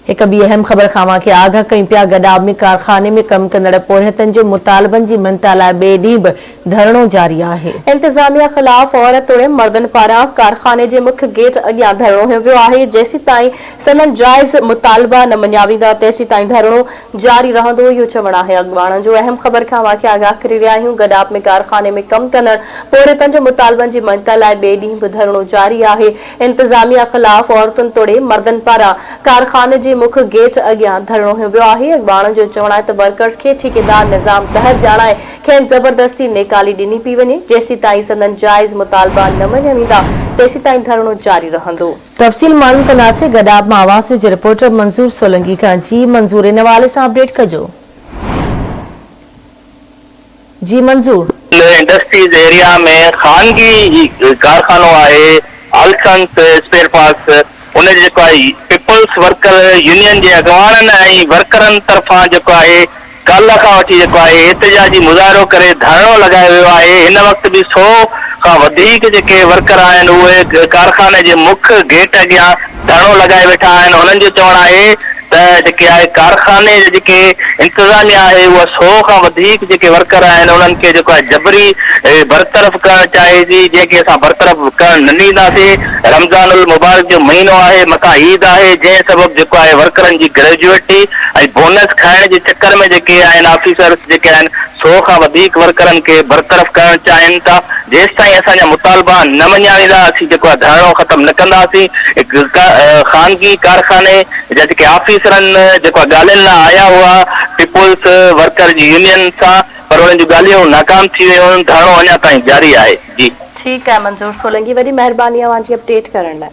هڪ ٻي اهم خبر کان اوهان کي آگهه ڪيون پيا گڏاب ۾ ڪارخاني ۾ ڪم ڪندڙ پورهيتن جو مطالبن جي مڃتا لاء ٻئي ڏينهن به ڌرڻو جاري آهي. انتظاميا خلاف عورت توڙي مردن پاران ڪارخاني جي مک گيٽ اڳيان ڌرڻو هنيو ويو آهي جيسيتائين سندن جائز مطالبا نه مڃيا ويندا تيسيتائين ڌرڻو جاري رهندو اهو چوڻ آهي اڳواڻن جو اهم خبر کان اوهان کي آگاهه ڪري رهيا آهيون گڏاب ۾ ڪارخاني ۾ ڪم ڪندڙ پورهيتن جو مطالبن جي مڃتا لاء ٻئي ڏينهن به ڌرڻو جاري آهي انتظاميا خلاف عورتن توڙي مردن پاران ڪارخاني جي مک گيٽ اڳيان ڌرڻو هنيو ويو آهي، اڳواڻن جو چوڻ آهي ته ورڪرز کي ٺيڪيدار نظام تحت ڄاڻائي کين زبردستي نيڪالي ڏني پئي وڃي، جيسيتائين سندن جائز مطالبا نه مڃيا ويندا تيسيتائين ڌرڻو جاري رهندو. تفصيل معلوم ڪنداسين گڏاپ مان اواسيو جي رپورٽر منظور سولنگي کان جي منظور ان حوالي سان اپڊيٽ ڪجو. جي منظور. ان انڊسٽريز ايريا ۾ خانگي ڪارخانو آهي آلسنس اسپيئر پارٽس ان جي جيڪو آهي پيپلز ورڪر يونين جي اڳواڻن ۽ ورڪرن طرفان جيڪو آهي ڪالهه کان وٺي جيڪو آهي احتجاجي مظاهرو ڪري ڌرڻو لڳايو ويو آهي هن وقت به سؤ کان وڌيڪ جيڪي ورڪر آهن اهي ڪارخاني جي مک گيٽ اڳيان ڌرڻو لڳائي ويٺا آهن انهن جو چوڻ آهي ته جيڪي آهي ڪارخاني جي جيڪي انتظاميا آهي اها سو کان وڌيڪ جيڪي ورڪر آهن انهن کي جيڪو آهي جبري برطرف ڪرڻ چاهي ٿي جنهن کي اسان برطرف ڪرڻ نه ڏينداسين رمضان المبارڪ جو مهينو آهي مٿان عيد آهي جنهن سبب جيڪو آهي ورڪرن جي گريجوئٽي ۽ بونس کائڻ جي چڪر ۾ جيڪي آهن آفيسرس جيڪي آهن سو کان وڌيڪ ورڪرن کي برطرف ڪرڻ چاهين ٿا. جيستائين اسان جا مطالبا نه مڃيا ويندا اسين جيڪو آهي ڌرڻو ختم نه ڪنداسين، خانگي ڪارخاني جا جيڪي آفيسرن جيڪو آهي ڳالهين لا آيا هئا پيپلز ورڪر جي يونين سان پر انهن جون ڳالهيون ناڪام ٿي ويون، ڌرڻو اڃا تائين جاري آهي. جي. ٺيڪ آهي منظور سولنگي وڏي مهرباني اوهان جي اپڊيٽ ڪرڻ لاء.